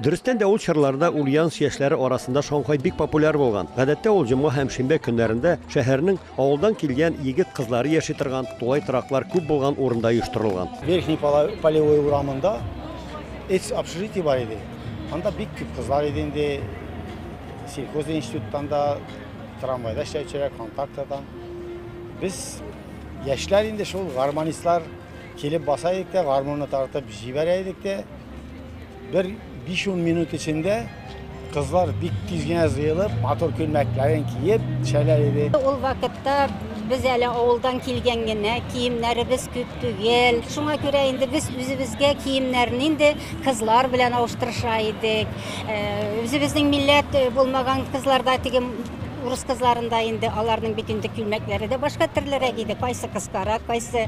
Дөрестән дә ул чорларда ульяновск яшьләре арасында шаңхай бик популяр булган. Гадәттә ул җомга һәм шимбә көннәрендә шәһәрнең авылдан килгән егет-кызлары яши торган, тулай тораклар күп булган урында оештырылган. Верхний Полевой урамында эц общежитие бар иде. Анда бик күп кызлар иде инде. Сельхоз институттан да, трамвайда эшләүчеләр, контактадан. Без яшьләр инде шул гармонистлар килеп баса идек тә гармунны тартып җибәрә идек тә бер 5-10 минут эчендә кызлар бик тиз генә җыелып, матур күлмәкләрен киеп төшәләр иде. Ул вакытта без әле авылдан килгән генә, киемнәребез күп түгел. Шуңа күрә инде без үзебезгә киемнәрне инде кызлар белән алыштырыша идек. Э, үзебезнең милләт э, булмаган кызларда теге урыс кызларында инде аларның бит инде күлмәкләре дә башка төрлерәк иде. Кайсы кыскарак, кайсы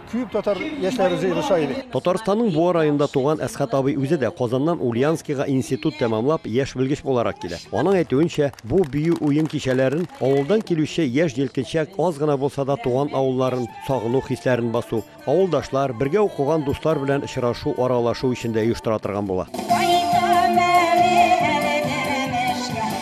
Күп татар яшьләре җыелыша иде. Татарстанның Буа районында туган Әсхәт абый үзе дә Казаннан Ульяновскига институт тәмамлап, яшь белгеч буларак килә. Аның әйтүенчә, бу бию-уен кичәләрен, авылдан килүче яшь җилкенчәк аз гына булса да туган авылларын сагыну хисләрен басу, авылдашлар, бергә укыган дуслар белән очрашу, аралашу өчен дә оештыра торган була.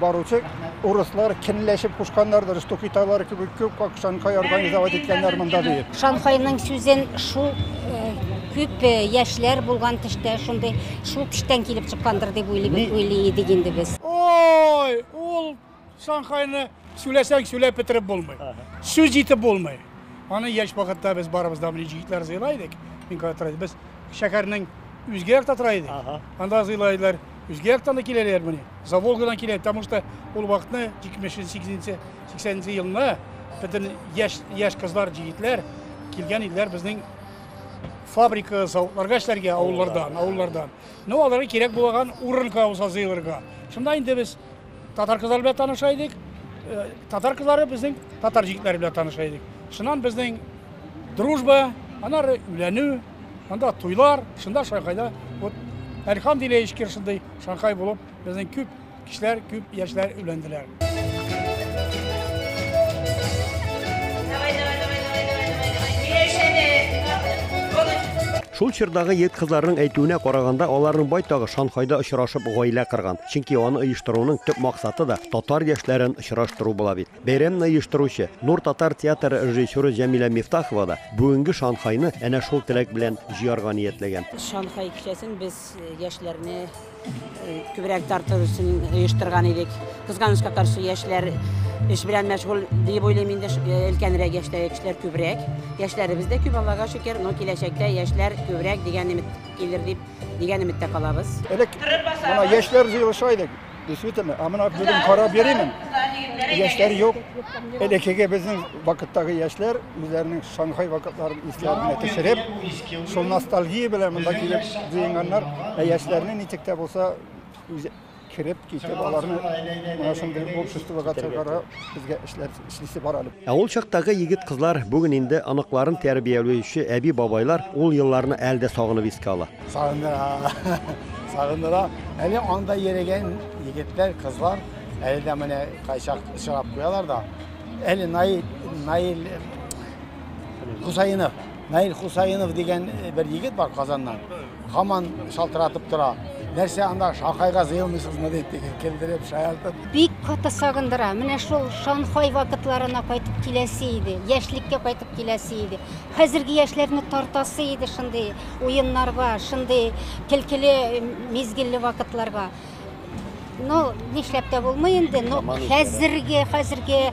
Баручы урыслар кенләшеп кушканнардыр, что китайлар кебек күп как Шанхай организовать иткәннәр монда ди. Шанхайның сүзен шул күп яшьләр булган төштә шундый шул төштән килеп чыккандыр дип уйлый идек инде без. Ой, ул Шанхайны сүләсәң сүләп бетереп булмый. Сүз җитеп булмый. Аны яшь вакытта без барыбыз да белән җитләр зыйлайдык. Мин катырайдык. Без шәһәрнең үзгә якта тора идек. Анда зыйлайдылар. Үзге яктан да киләләр менә. За Волгадан килә, потому что ул вакытны 70-80 елны бөтен яшь яшь кызлар, җегетләр килгән иделәр безнең фабрика, заводларга эшләргә авыллардан, авыллардан. Ну, аларга кирәк булган урын кауза зыйлырга. Шунда инде без татар кызлары белән таныша идек. Э, татар кызлары безнең татар җегетләре белән таныша идек. Шуннан безнең дружба, анары үләнү, Монда туйлар, шунда Шанхайда вот Әлхам Дилеевич шундый Шанхай булып, безнең күп кешеләр, күп яшьләр өйләнделәр. Шул чордагы ет кызларның әйтүенә караганда, аларның байтагы Шанхайда очрашып гаилә кырган. Чөнки аны оештыруның төп максаты да татар яшьләрен очраштыру була бит. Бәйрәмне оештыручы, Нур татар театры режиссеры Җәмилә Мифтахова да бүгенге Шанхайны әнә шул теләк белән җыярга ниятләгән. Шанхай кичәсен без яшьләрне күбрәк тарту өчен оештырган идек. Кызганычка каршы, яшьләр эш белән мәшгуль дип уйлыйм инде, өлкәнрәк яшьтәге кешеләр күбрәк. Яшьләребез дә күп, Аллага шөкер, но киләчәктә яшьләр күбрәк дигән өмет килер дип, дигән өметтә калабыз. Элек менә яшьләр җыелыша идек. Действительно, а мына бүген карап йөримен. Яшьләр юк. Элеккеге безнең вакыттагы яшьләр үзләренең Шанхай вакытларын исләренә төшереп, шул ностальгия белән монда килеп җыенганнар. Ә яшьләрне ничек тә булса кереп китеп аларны менә шундый обществога чыгарып безгә эшләр эшлисе бар әле. Ә ул чактагы егет-кызлар, бүген инде оныкларын тәрбиялөюче әби-бабайлар ул елларны әле дә сагынып искә ала. Сагындыра, сагындыра. Әле анда йөрегән егетләр, кызлар әле дә менә кайчак очрап куялар да. Әле Наил, Наил Хусаинов, Наил Хусаинов дигән бер егет бар Казаннан. Гаман шалтыратып тора. Нәрсә анда Шанхайга зыелмыйсызмы дип килдереп шаяртып. Бик каты сагындыра. Менә шул Шанхай вакытларына кайтып киләсе иде. Яшьлеккә кайтып киләсе иде. Хәзерге яшьләрне тартасы иде шундый уеннарга, шундый килкеле мизгелле вакытларга. но нишләп тә булмый инде но хәзерге хәзерге э,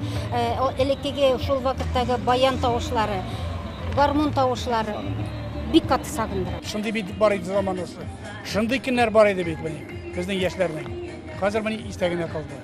элеккеге шул вакыттагы баян тавышлары гармун тавышлары бик каты сагындыра шундый бит бар иде заманасы шундый көннәр бар иде бит менә безнең яшьләрнең хәзер менә истә генә калды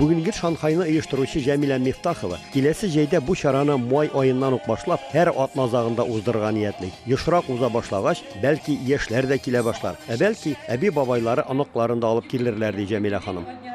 Бүгенге Шанхайны оештыручы Җәмилә Мифтахова киләсе җәйдә бу чараны май аеннан ук башлап, һәр атна азагында уздырырга ниятли. Ешрак уза башлагач, бәлки, яшьләр дә килә башлар. Ә бәлки, әби-бабайлары оныкларын да алып килерләр, ди Җәмилә ханым.